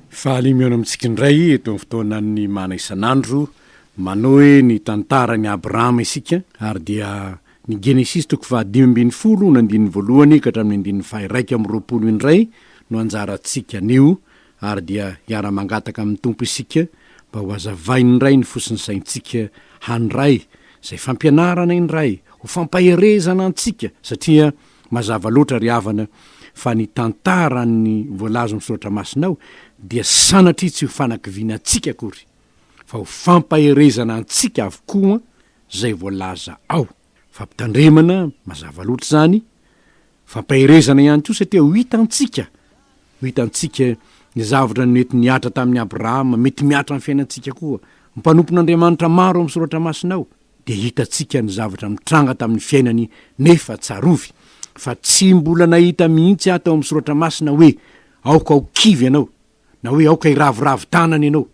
Faly mihaona amintsika indray eto amin'ny fotoanan'ny mana isan'andro. Manohy ny tantaran'i Abrahama isika ary dia ny Genesisy toko fahadimy ambin'ny folo ny andininy voalohany ka hatramin'ny andininy faha-iraika amby roapolo indray no anjarantsika anio ary dia hiara-mangataka amin'ny Tompo isika mba ho hazavainy indray ny fosin'ny saintsika handray izay fampianarana indray ho fampaherezana antsika satria Mazava loatra ry havana fa ny tantaran'ny voalazon'ny Soratra Masina ao dia sanatria tsy ho fanakiviana antsika akory fa ho fampaherezana antsika avokoa izay voalaza ao. Fampitandremana mazava loatra izany, fampaherezana ihany koa satria ho hitantsika, ho hitantsika ny zavatra nety nihatra tamin'i Abrahama mety mihatra amin'ny fiainantsika koa. Mpanompon'Andriamanitra maro ao amin'ny Soratra Masina ao. dia hitantsika ny zavatra nitranga tamin'ny fiainany nefa tsarovy fa tsy mbola nahita mihitsy aho tao amin'ny soratra masina hoe aoka ho kivy ianao na hoe aoka hiraviravy tanana ianao.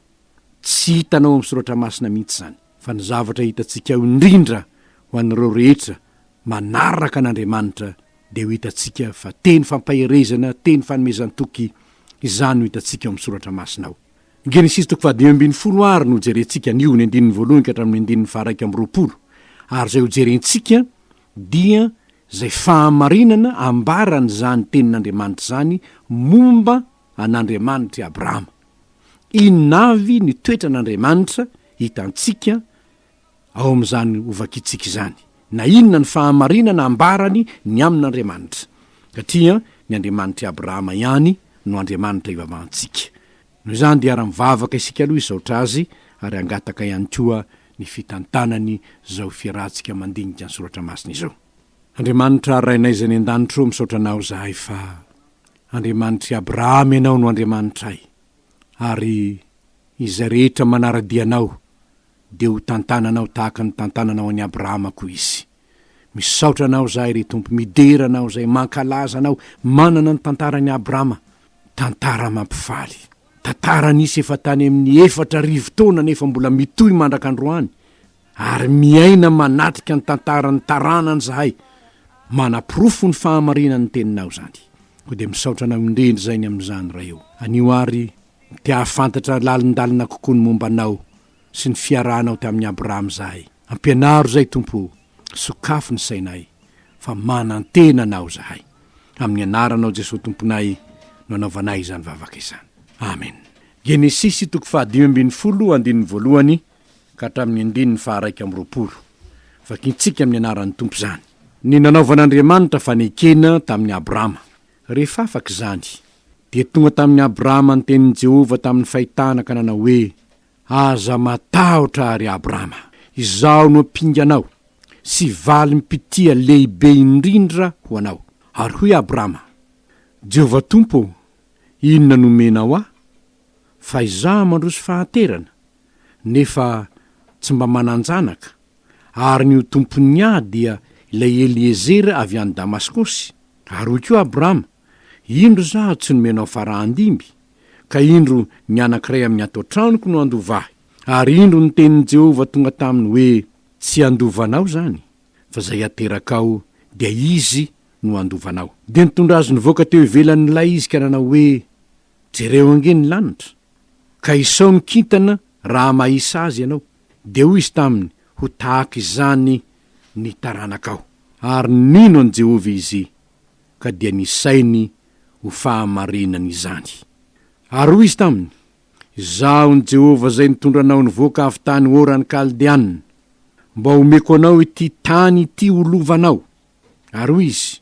Tsy hitanao amin'ny soratra masina mihitsy izany fa ny zavatra hitantsika ao indrindra ho an'ireo rehetra manaraka an'Andriamanitra dia ho hitantsika fa teny fampaherezana, teny fanomezan-toky izany no hitantsika ao amin'ny soratra masina ao. Ny Genesisy toko fahadimy ambin'ny folo àry no jerentsika anio, ny andininy voalohany ka hatramin'ny andininy faharaika amby roapolo. Ary izay hojerentsika dia izay fahamarinana ambaran'izany Tenin'Andriamanitra izany momba an'Andriamanitra i Abrahama. Inona avy ny toetran'Andriamanitra hitantsika ao amin'izany hovakitsika izany, na inona ny fahamarinana ambarany ny amin'Andriamanitra, satria ny Andriamanitr'i Abrahama ihany no Andriamanitra ivavahantsika. Noho izany dia ara-mivavaka isika aloha hisaotra Azy, ary hangataka ihany koa ny fitantanany izao fiarahantsika mandinika ny Soratra Masina izao. Andriamanitra Rainay izay any an-danitra ô, misaotra Anao izahay fa Andriamanitr'i Abrahama Ianao no Andriamanitray, ary izay rehetra manara-dia Anao dia ho tantananao tahaka ny tantananao an'i Abrahama koa izy. Misaotra anao izahay, ry Tompo, midera anao izay mankalaza anao, manana ny tantaran'i Abrahama, tantara mampifaly. Tantara nisy efa tany amin'ny efatra arivo taona nefa mbola mitohy mandrak'androany, ary miaina manatrika ny tantaran'ny taranany izahay, manaporofo ny fahamarinan'ny teninao izany. Koa dia misaotra anao indrindra izay ny amin'izany, Ray ô. Anio àry Te hahafantatra lalindalina kokoa ny momba anao sy ny fiarahanao tamin'i Abrahama izahay. Ampianaro izay, Tompo o, sokafy ny sainay, fa manantena Anao izahay. Amin'ny Anaranao Jesoa Tomponay no anaovanay izany vavaka izany. Amen. Genesisy toko fahadimy ambin'ny folo, andininy voalohany ka hatramin'ny andininy faharaika amby roapolo. Vakintsika amin'ny Anaran'ny Tompo izany. Ny nanaovan'Andriamanitra fanekena tamin'i Abrahama. Rehefa afaka izany, dia tonga tamin'i Abrama ny tenin'i Jehovah tamin'ny fahitana ka nanao hoe, Aza matahotra, ry Abrama. Izaho no ampinganao, sy valim-pitia lehibe indrindra ho anao. Ary hoy Abrama, Jehovah Tompo ô, inona no omenao ahy? Fa izaho mandroso fahanterana, nefa tsy mba manan-janaka. ary ny ho tompon'ny ahy dia ilay Eliezera avy any Damaskosy, ary hoy koa Abrama, Indro izaho tsy nomena ho farahandimby, ka indro ny anankiray amin'ny ato an-tranoko no handova ahy. Ary indro ny tenin'i Jehovah tonga taminy hoe, Tsy handova anao izany, fa izay aterakao, dia izy no handova anao. Dia nitondra azy nivoaka teo ivelan'ilay izy ka nanao hoe, Jereo ange ny lanitra, ka isao ny kintana raha mahisa azy ianao. Dia hoy izy taminy, Ho tahaka izany ny taranakao. Ary nino an'i Jehovah izy, ka dia nisainy ho fahamarinana izany. Ary hoy izy taminy, Izaho ny Jehovah izay nitondra anao nivoaka avy tany Oran'ny Kaldeanina, mba homeko anao ity tany ity ho lovanao. Ary hoy izy,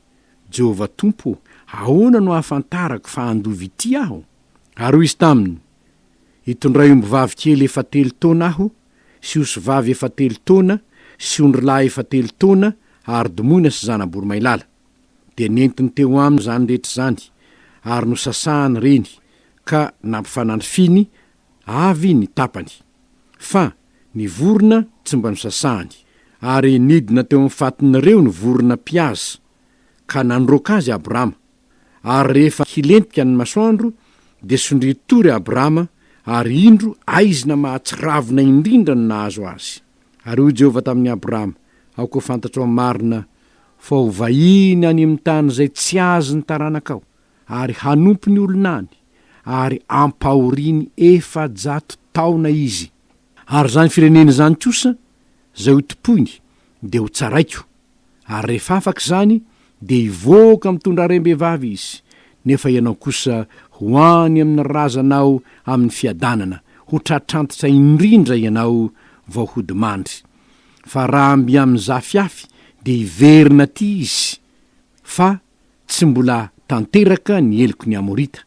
Jehovah Tompo ô, ahoana no hahafantarako fa handova ity aho? Ary hoy izy taminy, Hitondray ombivavy kely efa telo taona aho, sy osivavy efa telo taona, sy ondrilahy efa telo taona, ary domoina sy zana-boromailala. Dia nentiny teo aminy izany rehetra izany, ary nosasahany ireny, ka nampifanandrifiny avy ny tapany. Fa ny vorona tsy mba nosasany, ary nidina teo amin'ny fatin'ireo ny vorona mpihaza, ka nandroaka azy Abrama. Ary rehefa hilentika ny masoandro, dia sondrio tory Abrama, ary indro aizina mahatsiravina indrindra no nahazo azy. Ary hoy Jehovah tamin'i Abrama, Aoka ho fantatrao marina fa ho vahiny any amin'ny tany izay tsy azy ny taranakao, ary hanompo ny olona any, ary ampahoriany efajato taona izy. Ary izany firenena izany kosa, izay hotompoiny, dia ho tsaraiko, ary rehefa afaka izany, dia hivoaka mitondra harem-behivavy izy, nefa ianao kosa ho any amin' ny razanao amin' ny fiadanana, ho tratrantitra indrindra ianao vao hody mandry. Fa raha mby amin' ny zafiafy, dia hiverina aty izy, fa tsy mbola tanteraka ny heloky ny Amorita,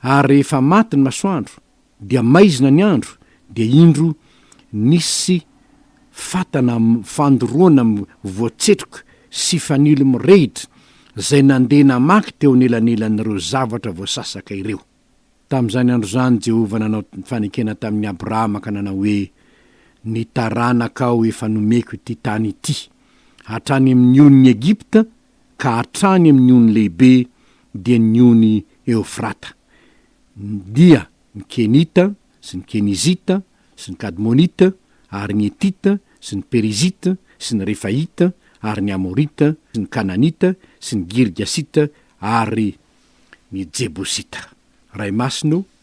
ary rehefa maty ny masoandro, dia maizina ny andro, dia indro nisy fatana fandoroana voatsetroka sy fanilo mirehitra izay nandeha namaky teo anelanelan'ireo zavatra voasasaka ireo. Tamin'izany andro izany Jehovah nanao fanekena tamin'i Abrahama ka nanao hoe, Ny taranakao efa nomeko ity tany ity, hatrany amin'ny onin'i Egypta ka hatrany amin'ny ony lehibe dia ny ony Eofrata. Dia ny Kenita sy ny Kenizita sy ny Kadmonita ary ny Hetita sy ny Perizita sy ny Refaita ary ny Amorita sy ny Kananita sy ny Girgasita ary ny Jebosita. Ray masino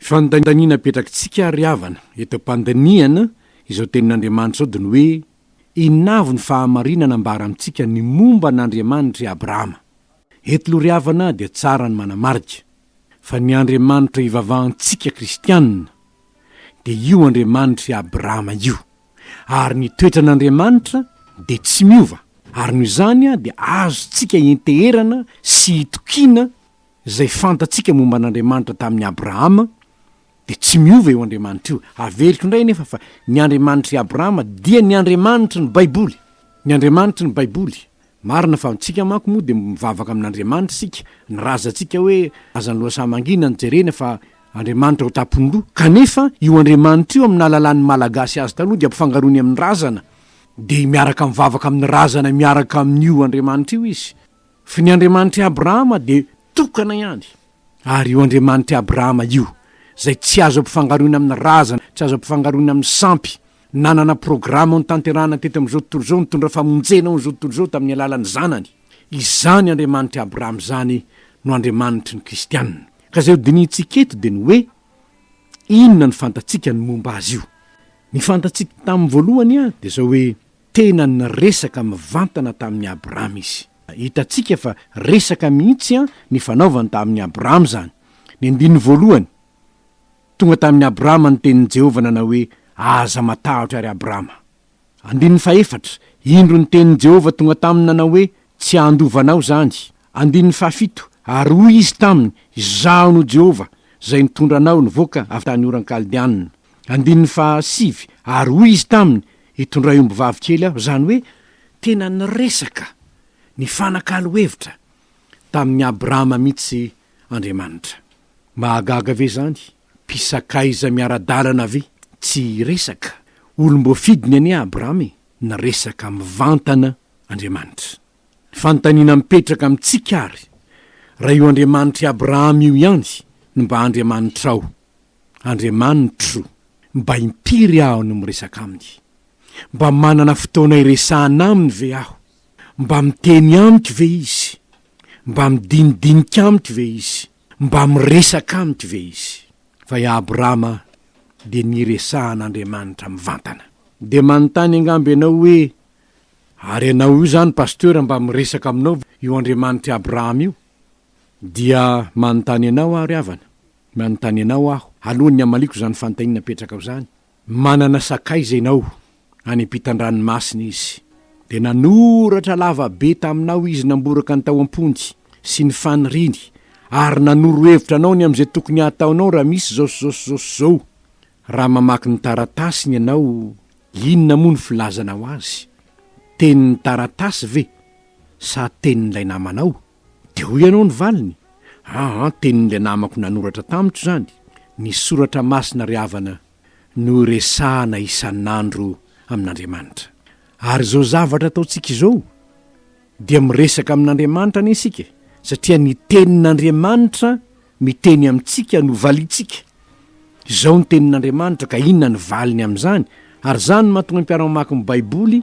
Fandaniana apetrakitsika ry havana eto am-pandinihana izao tenin'Andriamanitra izao dia ny hoe inona avy ny fahamarinana ambara amintsika ny momba an'Andriamanitra i Abrahama. Eto loha ry havana dia tsara ny manamarika fa ny Andriamanitra ivavahantsika kristianina dia io Andriamanitr'i Abrahama io ary ny toetran'Andriamanitra dia tsy miova ary noho izany dia azontsika ienteherana sy itokiana Izay fantatsika momba an'Andriamanitra tamin'i Abrahama dia tsy miova io Andriamanitra io. Averiko indray anefa fa ny Andriamanitr'i Abrahama dia ny Andriamanitry ny Baiboly. Ny Andriamanitry ny Baiboly. Marina fa antsika manko moa dia mivavaka amin'Andriamanitra isika, ny razantsika hoe azan'ny lohasaha mangina no jerena fa Andriamanitra ao tampon-doha. Kanefa io Andriamanitra io amin'ny nahalalan'ny Malagasy azy taloha dia ampifangaroiny amin'ny razana, dia miaraka mivavaka amin'ny razana miaraka amin'io Andriamanitra io izy. Fa ny Andriamanitr'i Abrahama dia tokana ihany, ary io Andriamanitr'i Abrahama io, izay tsy azo ampifangaroina amin'ny razana, tsy azo ampifangaroina amin'ny sampy, nanana programa ho notanterahana teto amin'izao tontolo izao, nitondra famonjena ho an'izao tontolo izao tamin'ny alalan'ny Zanany. Izany Andriamanitr'i Abrahama izany no Andriamanitry ny Kristianina. Ka izay hodinihintsika eto dia ny hoe, Inona no fantatsika ny momba Azy io? Ny fantatsika tamin'ny voalohany dia izao hoe, Tena niresaka mivantana tamin'i Abrahama izy. Hitantsika fa resaka mihitsy ny fanaovany tamin'i Abrahama izany. Ny andininy voalohany, Tonga tamin'i Abrahama ny tenin'i Jehovah nanao hoe, Aza matahotra, ry Abrahama. Andininy fahefatra, Indro ny tenin'i Jehovah tonga taminy nanao hoe, Tsy handova anao izany. Andininy fahafito, Ary hoy izy taminy, Izaho no Jehovah, izay nitondra anao nivoaka avy tany Oran-Kaldeanina. Andininy fahasivy, Ary hoy izy taminy, Hitondray ombivavy kely aho, izany hoe tena niresaka, nifanakalo hevitra, tamin'i Abrahama mihitsy Andriamanitra. Mahagaga ve izany? Mpisakaiza miara-dalana ve tsy hiresaka? Olom-boafidiny anie Abrahama e! Niresaka mivantana Andriamanitra. Ny fanontaniana mipetraka amintsika àry, raha io Andriamanitr'i Abrahama io ihany no mba Andriamanitrao. Andriamanitro, mba impiry aho no miresaka Aminy? Mba manana fotoana iresahana Aminy ve aho? Mba miteny amiko ve Izy? Mba midinidinika amiko ve Izy? Mba miresaka amiko ve Izy? Fa i Abrahama dia niresahan'Andriamanitra mivantana. Dia manontany angamba ianao hoe, Ary ianao io izany Pasteur mba miresaka aminao ve io Andriamanitr'i Abrahama io? Dia manontany anao aho ry havana. Manontany anao aho, alohan'ny hamaliako izany fanontaniana apetrakao izany, Manana sakaiza ianao any am-pitan-dranomasina izy? Dia nanoratra lava be taminao izy namboraka ny tao am-pony sy ny faniriany, ary nanoro hevitra anao ny amin'izay tokony hataonao raha misy izao sy izao sy izao sy izao. Raha mamaky ny taratasiny ianao, inona moa no filazanao azy? Tenin'ny taratasy ve sa tenin'ilay namanao? Dia hoy ianao ny valiny, aa tenin'ilay namako nanoratra tamiko izany, ny soratra masina ry havana no iresahana isan'andro amin'Andriamanitra. Ary izao zavatra ataontsika izao dia miresaka amin'Andriamanitra anie isika satria ny tenin'Andriamanitra Miteny amintsika no valintsika. Izao ny Tenin'Andriamanitra ka inona ny valiny amin'izany? Ary izany no mahatonga ny mpiara-mamaky ny Baiboly,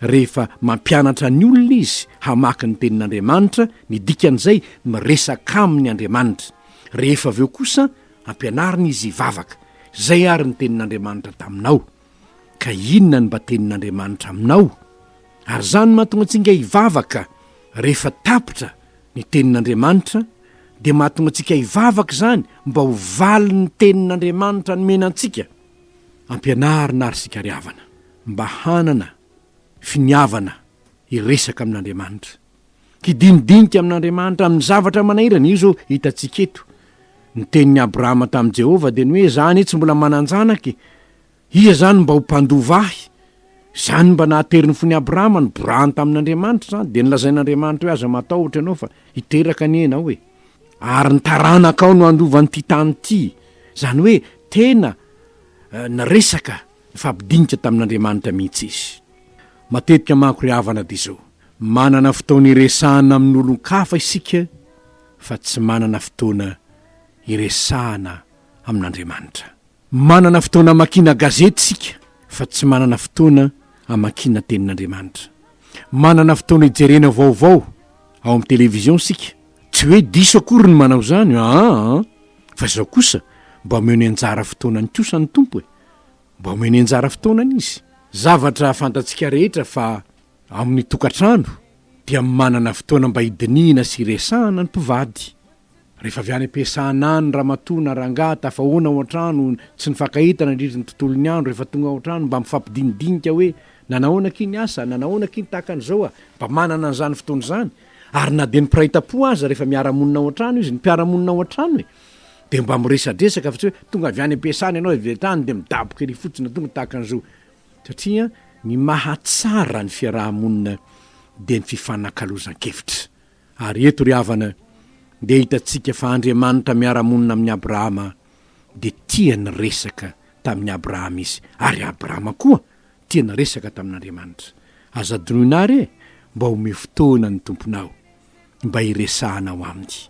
rehefa mampianatra ny olona izy hamaky ny Tenin'Andriamanitra, ny dikan'izay, miresaka aminy Andriamanitra. Rehefa avy eo kosa, ampianarina izy hivavaka. Izay àry ny Tenin'Andriamanitra taminao. Ka inona no mba tenin'Andriamanitra aminao? Ary izany no mahatonga antsika hivavaka. Rehefa tapitra ny tenin'Andriamanitra, dia mahatonga antsika hivavaka izany mba ho valin'ny tenin'Andriamanitra nomena antsika. Ampianarina àry isika ry havana mba hanana finiavana hiresaka amin'Andriamanitra. Hidinidinika amin'Andriamanitra amin'ny zavatra manahirana. Io izao hitantsika eto. Ny tenin'i Abrahama tamin'i Jehovah dia ny hoe, Izaho anie tsy mbola manan-janaka e! Iza izany no mba ho mpandova ahy? Izany mba nahatery ny fon'i Abrahama, niborahany tamin'Andriamanitra izany. Dia nolazain'Andriamanitra hoe, Aza matahotra ianao, fa hiteraka anie ianao e! Ary ny taranakao no handova an'ity tany ity. Izany hoe tena niresaka, nifampidinika tamin'Andriamanitra mihitsy izy. Matetika manko ry havana dia izao. Manana fotoana iresahana amin'olon-kafa isika fa tsy manana fotoana iresahana amin'Andriamanitra. Manana fotoana amakiana gazety isika fa tsy manana fotoana amakiana Tenin'Andriamanitra. Manana fotoana ijerena vaovao ao amin'ny television isika, tsy hoe diso akory ny manao izany aa, fa izao kosa mba omeo ny anjara fotoanany kosa ny Tompo e! Mba omeo ny anjara fotoanany Izy. Zavatra fantatsika rehetra fa Amin'ny tokantrano dia manana fotoana mba hidinihina sy hiresahana ny mpivady. Rehefa avy any am-piasana any ny ramatoa na rangahy tafahoana ao an-trano tsy nifankahita nandritry ny tontolon'ny andro rehefa tonga ao an-trano mba mifampidinidinika hoe nanahoana akia ny asa, nanahoana akia ny tahaka an'izao a! Mba manana an'izany fotoana izany ary na dia ny mpiray tampo aza rehefa miara-monina ao an-trano izy, ny mpiara-monina ao an-trano e! dia mba miresadresaka fa tsy hoe tonga avy any am-piasana ianao avy hatrany dia midaboka ery fotsiny na tonga tahaka an'izao Satria ny mahatsara ny fiaraha-monina dia ny fifanakalozan-kevitra. Ary eto ry havana dia hitantsika fa Andriamanitra miara-monina amin'i Abrahama dia tia niresaka tamin'i Abrahama Izy, ary Abrahama koa tia niresaka tamin'Andriamanitra. Aza adinoina ary e! Mba omeo fotoana ny Tomponao mba hiresahanao Aminy.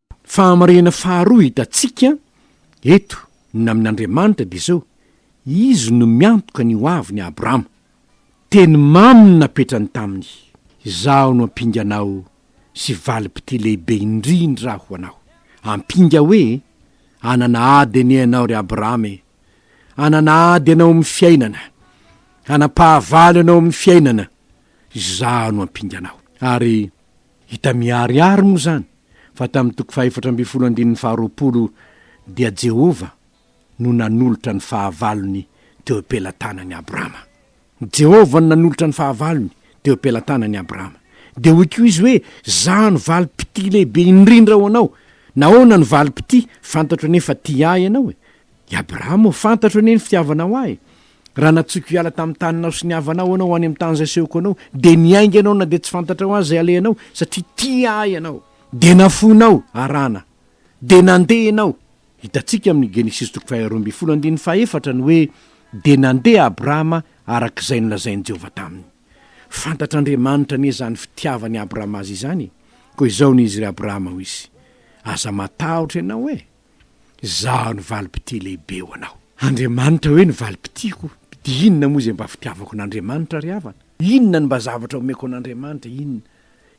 Fahamarinana faharoa hitantsika eto ny amin' Andriamanitra dia izao, Izy no miantoka ny hoaviny Abrahama. Teny mamy no napetrany taminy, Izaho no ampinganao sy valim-pitia lehibe indrindra ho anao. Ampinga hoe, Hanana ady anie ianao ry Abrahama e! Hanana ady ianao amin'ny fiainana. Hanam-pahavalo ianao amin'ny fiainana. Izaho no ampinganao. Ary. Hita miharihary moa izany fa tamin'ny toko fahefatra ambin'ny folo andininy faharoapolo dia Jehovah no nanolotra ny fahavalony teo am-pelatanan'i Abrama. Jehovah no nanolotra ny fahavalony teo am-pelatanan'i Abrama. Dia hoy koa izy hoe, Izaho no valim-pitia lehibe indrindra ho anao. Nahoana no valim-pitia? Fantatro anie fa tia ahy ianao e! I Abrama ô, fantatro anie ny fitiavanao ahy e! Raha natsoiko hiala tamin'ny taninao sy ny havanao ianao ho any amin'ny tany izay asehoko anao, dia niainga ianao na dia tsy fantatrao aza izay halehanao, satria tia Ahy ianao. Dia nafoinao, Harana, dia nandeha ianao. Hitantsika amin'ny Genesisy toko faharoa ambin'ny folo andininy fahefatra ny hoe, Dia nandeha Abrahama araka izay nolazain'i Jehovah taminy. Fantatr'Andriamanitra anie izany fitiavan'i Abrahama azy izany e! Koa izao no izy ry Abrahama, hoy Izy, Aza matahotra ianao e! Izaho no valim-pitia lehibe ho anao. Andriamanitra hoe ny valim-pitiako, dia inona moa izay mba fitiavako an'Andriamanitra ry havana? Inona no mba zavatra omeko an'Andriamanitra? Inona?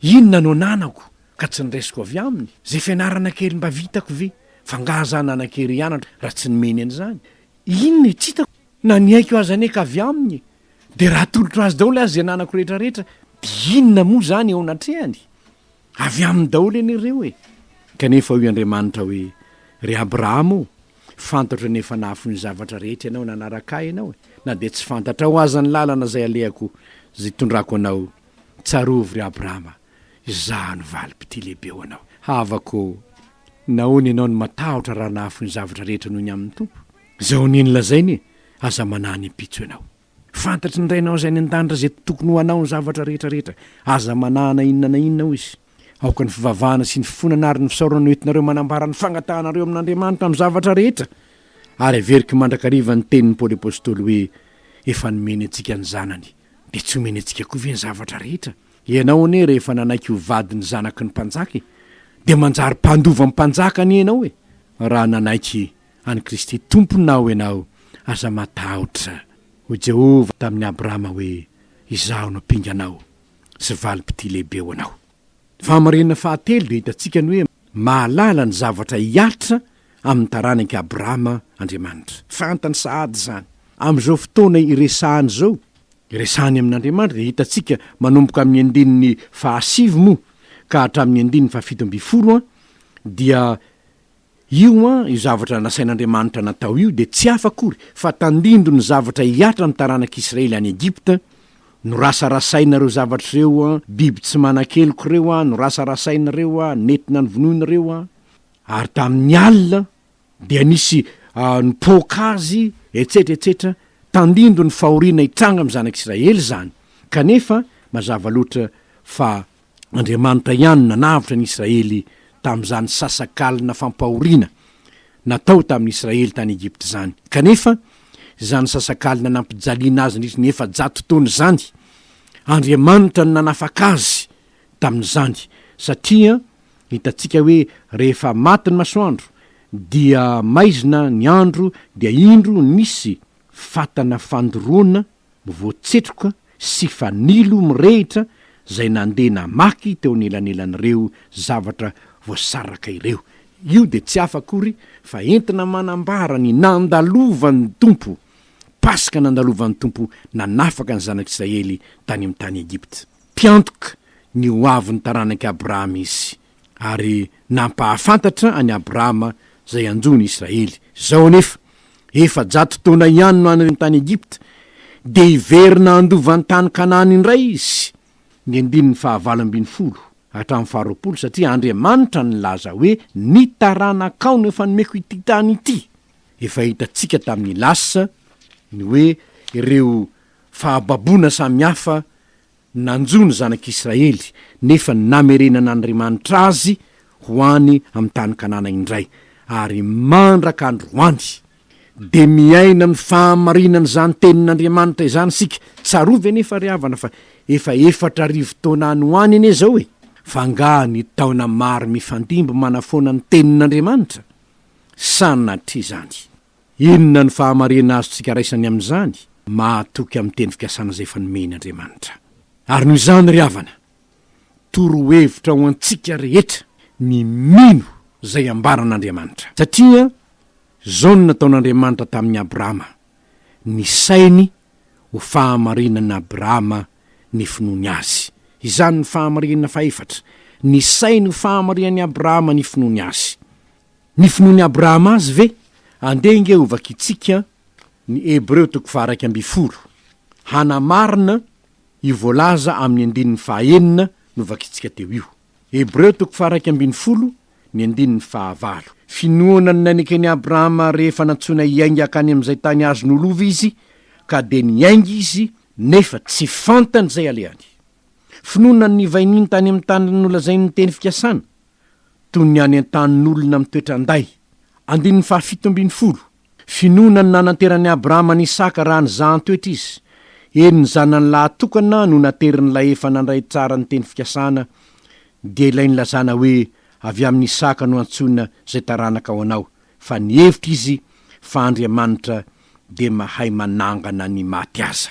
Inona no ananako ka tsy niraisiko avy Aminy? Izay fianarana kely mba vitako ve? F'angaha izaho nanan-kery hianatra raha tsy nomeny an'izany? Inona e? Tsy hitako na ny aiko aza anie ka avy Aminy e! Dia raha atolotro Azy daholo aza izay ananako rehetrarehetra, dia inona moa izany eo anatrehany? Avy aminy daholo anie ireo e! Kanefa hoy Andriamanitra hoe, Ry Abrahama o, fantatro ny efa nahafoy ny zavatra rehetra ianao nanaraka Ahy ianao e, na dia tsy fantatrao aza ny lalana izay alehako sy itondrako anao. Tsarovy, ry Abrahama, Izaho no valim-pitia lehibe ho anao. Havako o, nahoana ianao no matahotra raha nahafoy ny zavatra rehetra noho ny amin'ny Tompo? Izao anie no lazainy e, Aza manahy ny ampitso ianao. Fantatry ny Rainao izay any an-danitra izay tokony ho anao ny zavatra rehetra rehetra. Aza manahana inona na inona, hoy izy. Aoka ny fivavahana sy ny fifonana ary ny fisaorana no entinareo manambara ny fangatahanareo amin'Andriamanitra amin'ny zavatra rehetra. Ary averiko mandrakariva ny tenin'i Paoly Apostoly hoe, Efa nomeny antsika ny Zanany, dia tsy homeny antsika koa ve ny zavatra rehetra? Ianao anie rehefa nanaiky ho vady ny Zanaky ny Mpanjaka e, dia manjary mpandova ny Mpanjaka anie ianao e, raha nanaiky an'i Kristy Tomponao ianao, aza matahotra. Hoy Jehovah tamin'i Abrahama hoe, Izaho no pinganao sy valim-pitia lehibe ho anao. Ny fahamarinana fahatelo dia hitantsika ny hoe mahalala ny zavatra hihatra amin'ny taranak'i Abrahama Andriamanitra. Fantany sahady izany. Amin'izao fotoana iresahany izao, iresahany amin'Andriamanitra, dia hitantsika manomboka amin'ny andininy fahasivy moa ka hatramin'ny andininy fahafito ambin'ny folo dia Io an, io zavatra nasain'Andriamanitra natao io dia tsy hafa akory fa tandindon'ny zavatra hihatra ny taranak'i Israely any Egypta, Norasarasainareo zavatra ireo an, biby tsy manan-keloka ireo an, norasarasainareo an, nentina novonoinareo an. Ary tamin'ny alina dia nisy nipoaka azy, etsetra, etsetra, tandindon'ny fahoriana hitranga amin'ny zanak'Israely izany. Kanefa, mazava loatra fa Andriamanitra ihany nanavotra ny Israely tamin'izany sasakalina fampahoriana natao tamin'ny Israely tany Egypta izany. Kanefa, izany sasakalina nampijaliana azy nandritra ny efajato taona izany, Andriamanitra no nanafaka azy tamin'izany, satria hitantsika hoe rehefa maty ny masoandro, dia maizina ny andro, dia indro nisy fatana fandoroana voatsetroka sy fanilo mirehitra izay nandeha namaky teo anelanelan'ireo zavatra voasaraka ireo. Io dia tsy hafa akory fa entina manambara ny nandalovan'ny Tompo, Paska nandalovan'ny Tompo nanafaka ny Zanak'Israely tany amin'ny tany Egypta. Mpiantoka ny hoavin'ny taranak'i Abrahama Izy. ary nampahafantatra an'i Abrahama izay hanjo ny Israely. Izao anefa, efajato taona ihany no any tany Egypta, dia hiverina handova ny tany Kanana indray izy, ny andininy fahavalo ambin'ny folo hatramin'ny faharoapolo, satria Andriamanitra nilaza hoe, Ny taranakao no efa nomeko ity tany ity. Efa hitantsika tamin'ny lasa ny hoe ireo fahababoana samihafa Nanjo ny zanak'i Israely, nefa namerenan'Andriamanitra azy ho any amin'ny tany Kanana indray, ary mandraka androany. Dia miaina amin'ny fahamarinan'izany tenin'Andriamanitra izany isika. Tsarovy anefa ry havana fa efa efatra arivo taona any ho any anie izao e! F'angaha ny taona maro mifandimby manafoana ny tenin'Andriamanitra? Sanatria izany! Inona ny fahamarihana azontsika raisany amin'izany? Mahatoky amin'ny teny fikasana izay efa nomeny Andriamanitra. Ary noho izany, ry havana, torohevitra ho antsika rehetra ny mino izay ambaran'Andriamanitra. Satria izao no nataon'Andriamanitra tamin'i Abrahama, Nisainy ho fahamarinan'Abrahama ny finoany Azy. Izany ny fahamarihana fahefatra, Nisainy ho fahamarihan'i Abrahama ny finoany Azy. Ny finoan'i Abrahama azy ve? Andeha ange hovakintsika ny Hebreo toko faharaika ambin'ny folo, hanamarina io voalaza amin'ny andininy fahaenina novakintsika teo io. Hebreo toko faharaika ambin'ny folo, ny andininy fahavalo. Finoana ny naineken'i Abrahama rehefa nantsoina hiainga hankany amin'izay tany azo nolova izy, ka dia niainga izy, nefa tsy fantany izay alehany. Finoana ny nivainiany tany amin'ny tany nolazainy ny teny fikasana, toy ny any an-tanin'olona mitoetra an-day. Andininy fahafito ambin'ny folo, Finoana no nananteran'i Abrahama an'i Isaka raha nizahan-toetra izy, eny ny zanany lahy tokana no naterin'ilay efa nandray tsara ny teny fikasana, dia ilay nilazana hoe avy amin'i Isaka no antsoina izay taranaka ho anao, fa nihevitra izy fa Andriamanitra dia mahay manangana ny maty aza.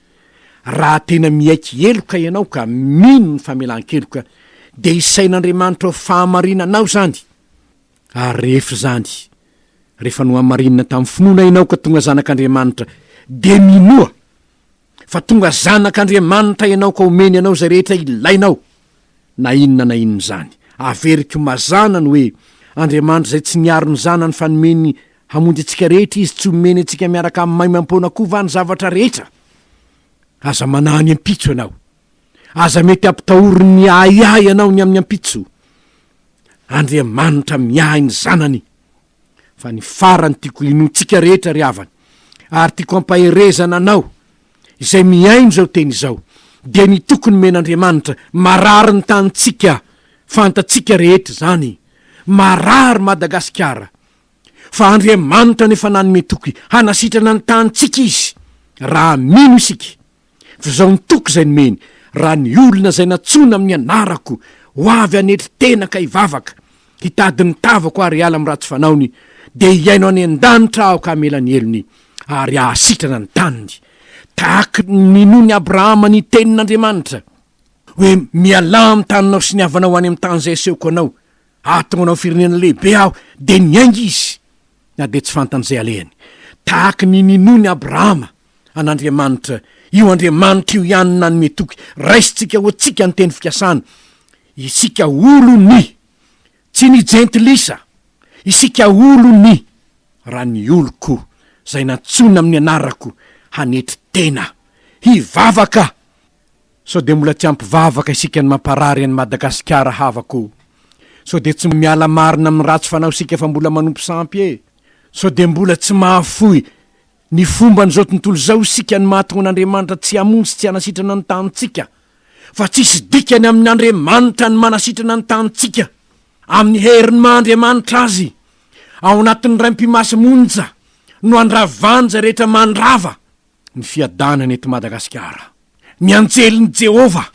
Raha tena miaiky heloka ianao ka mino ny famelan-keloka, dia isain'Andriamanitra ho fahamarinanao izany. Ary rehefa izany, rehefa nohamarinina tamin'ny finoana ianao ka tonga zanak'Andriamanitra, dia minoa fa tonga zanak'Andriamanitra ianao ka omeny anao izay rehetra ilainao, na inona na inona izany. Averiko mazàna ny hoe Andriamanitra izay tsy niaro ny zanany fa nomeny Hamonjy antsika rehetra Izy, tsy homeny antsika miaraka amin'ny maimaim-poana koa va ny zavatra rehetra? Aza manahy ny ampitso ianao. Aza mety hampitahory ny ahiahy ianao ny amin'ny ampitso. Andriamanitra miahy ny zanany. Fa ny farany tiako hinoantsika rehetra ry havana, ary tiako hampaherezana anao, izay mihaino izao teny izao, dia ny toky nomen'Andriamanitra, marary ny tanintsika, fantatsika rehetra izany, marary Madagasikara, fa Andriamanitra no efa nanome toky hanasitrana ny tanintsika Izy, raha mino isika. Fa izao ny toky izay nomeny, Raha ny olona izay nantsoina amin'ny anarako, ho avy hanetry tena ka hivavaka, hitady ny tavako ary hiala amin'ny ratsy fanaony, dia hihaino any an-danitra aho ka hamela ny helony, ary hahasitrana ny taniny. Tahaka ny ninoan'i Abrahama ny tenin'Andriamanitra, hoe, Mialà amin'ny taninao sy ny havanao any amin'ny tany izay asehoko anao. Aho tonga nao firenena lehibe aho, dia niainga izy, na dia tsy fantany izay alehany. Tahaka ny ninoany Abrahama an'Andriamanitra, io Andriamanitra io ihany no nanome toky. Raisintsika ho antsika ny teny fikasana, isika olony, tsy ny Jentilisa, isika olony, raha ny oloko, izay nantsoina amin'ny anarako, hanetry tena, hivavaka, Sao dia mbola tsy ampy vavaka isika ny mamparary an'i Madagasikara havako o! Sao dia tsy miala marina amin'ny ratsy fanao isika fa mbola manompo sampy e! Sao dia mbola tsy mahafoy ny fomban'izao tontolo izao isika no mahatonga an'Andriamanitra tsy hamonjy tsy hanasitrana ny tanintsika fa tsisy dikany amin'Andriamanitra ny manasitrana ny tanintsika amin'ny herin'ny maha Andriamanitra Azy ao anatin'ny Raim-pimasy monja no andravany izay rehetra mandrava ny fiadanana eto Madagasikara. Ny anjelin'i Jehovah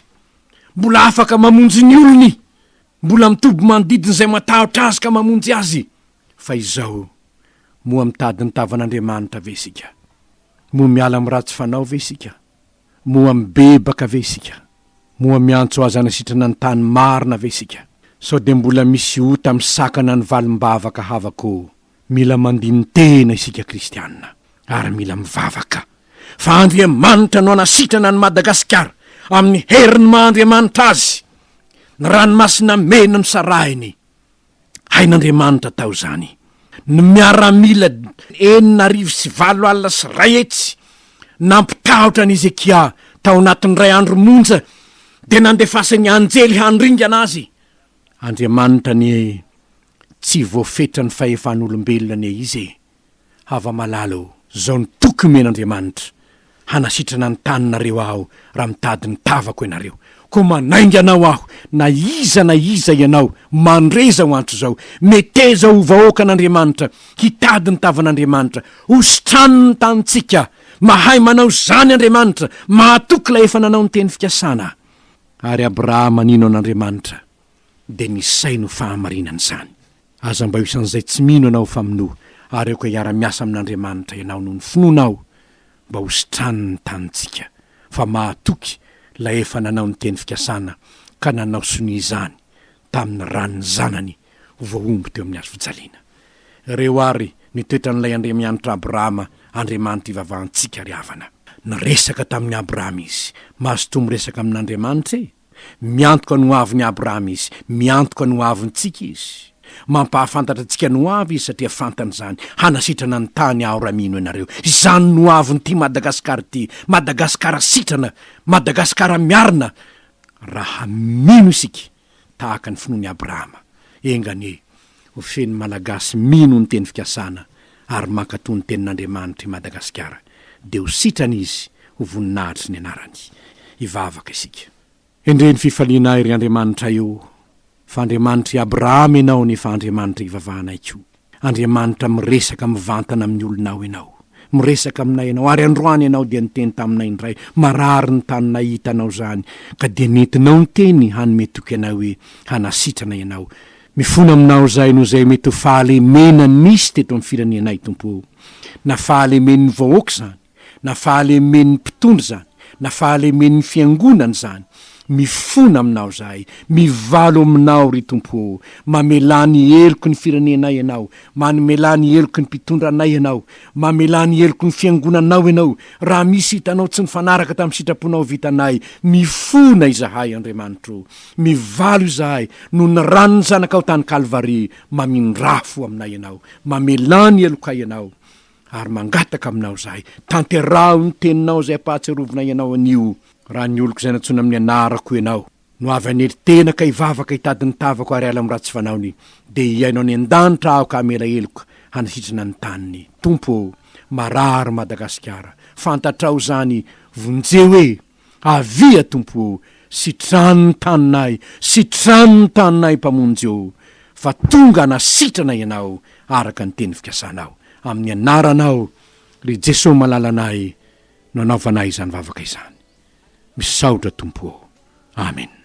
mbola afaka mamonjy ny olony, mbola mitoby manodidina izay matahotra azy ka mamonjy azy. Fa izao, moa mitady ny tavan'Andriamanitra ve isika? Moa miala amin'ny ratsy fanao ve isika? Moa mibebaka ve isika? Moa miantso azy hanasitrana ny tany marina ve isika? Sao dia mbola misy ota misakana ny valim-bavaka havako Mila mandini-tena isika kristiana ary mila mivavaka fa Andriamanitra no hanasitrana an'i Madagasikara amin'ny herin'ny maha Andriamanitra azy, ny ranomasina mena nosarahiny. Hain'Andriamanitra tao izany. Ny miaramila enina arivo sy valo alina sy iray hetsy nampitahotra an'i Hezekia tao anatin'ny iray andro monja dia nandefasin'ny anjely handringana azy. Andriamanitra anie Tsy voafetra ny fahefan'olombelona anie izy e! Hava-malala o! Zao ny toky omen'Andriamanitra, hanasitrana ny taninareo aho raha mitady ny tavako ianareo. Koa manainga anao aho, na iza na iza ianao, mandre izao antso izao, meteza ho vahoakan'Andriamanitra, hitady ny tavan'Andriamanitra, hositrano ny tanintsika. Mahay manao izany Andriamanitra, mahatoky ilay efa nanao ny teny fikasana. Ary Abrahama nino an'Andriamanitra, dia misaina ho fahamarinana izany. Aza mba ho isan'izay tsy mino ianao fa minoa, ary aoka hiara-miasa amin'Andriamanitra ianao noho ny finoanao mba ho sitraniny ny tanintsika, fa mahatoky Ilay efa nanao ny teny fikasana ka nanao sonia izany tamin'ny ran'ny Zanany ho voahombo teo amin'ny hazo fijaliana. Ireo àry ny toetran'Ilay Andriamianitra Abrahama, Andriamanitra ivavahantsika ry havana. Niresaka tamin'i Abrahama Izy. Mazotoa miresaka amin'Andriamanitra e! Miantoka ny hoavin'i Abrahama Izy. Miantoka ny hoavintsika Izy. Mampahafantatra antsika ny hoavy Izy satria fantany izany. Hanasitrana ny tany Aho raha mino ianareo. Izany no hoavin'ity Madagasikara ity. Madagasikara sitrana. Madagasikara miarina. Raha mino isika tahaka ny finoan'i Abrahama. Enga anie Ho feno Malagasy mino ny teny fikasana ary mankatoa ny tenin'Andriamanitra i Madagasikara dia ho sitrana izy ho voninahitry ny anarany. Hivavaka isika. Endrey ny fifalianay ry Andriamanitray o! Fa Andriamanitr'i Abrahama ianao nefa Andriamanitra ivavahanay koa. Andriamanitra miresaka mivantana amin'ny olonao ianao. Miresaka aminay ianao ary androany ianao dia niteny taminay indray, marary ny taninay hitanao izany ka dia nentinao niteny hanome toky anay hoe hanasitrana ianao Mifona aminao zay no zay mety ho fahalemena nisy teto am firenenay Tompo o! Na fahalemen'ny vahoaka zany, na fahalemen'ny mpitondra zany, na fahalemen'ny fiangonana zany, mifona aminao zahay, mivalo aminao ry Tompo o! Mamelà ny heloky ny firenenay ianao, mamelà ny heloky ny mpitondra anay ianao, mamelà ny heloky ny fiangonanao ianao, raha misy hitanao tsy nifanaraka tamin'ny sitraponao vitanay, mifona izahay Andriamanitro o! Mivalo izahay noho ny ran'ny Zanakao tany Kalvary, mamindrà fo aminay Ianao, mamelà ny helokay Ianao, ary mangataka Aminao izahay, tanteraho ny Teninao izay ampahatsiarovinay Ianao anio, raha ny oloko izay nantsoina amin'ny anarako Ianao no avy hanely tena ka hivavaka hitady ny tavako ary hiala amin'ny ratsy fanaony, dia hihaino any an-danitra aho ka hamela heloka hanasitrana ny taniny. Tompo ô, marary Madagasikara, fantatrao izany, vonjeo e! Avia Tompo ô, sitrano ny taninay, sitrano ny taninay Mpamonjy ô, fa tonga hanasitrana Ianao araka ny teny fikasanao. Amin'ny Anaranao, ry Jeso malalanay, no anaovanay izany vavaka izany. Misaotra Tompo ô. Amen.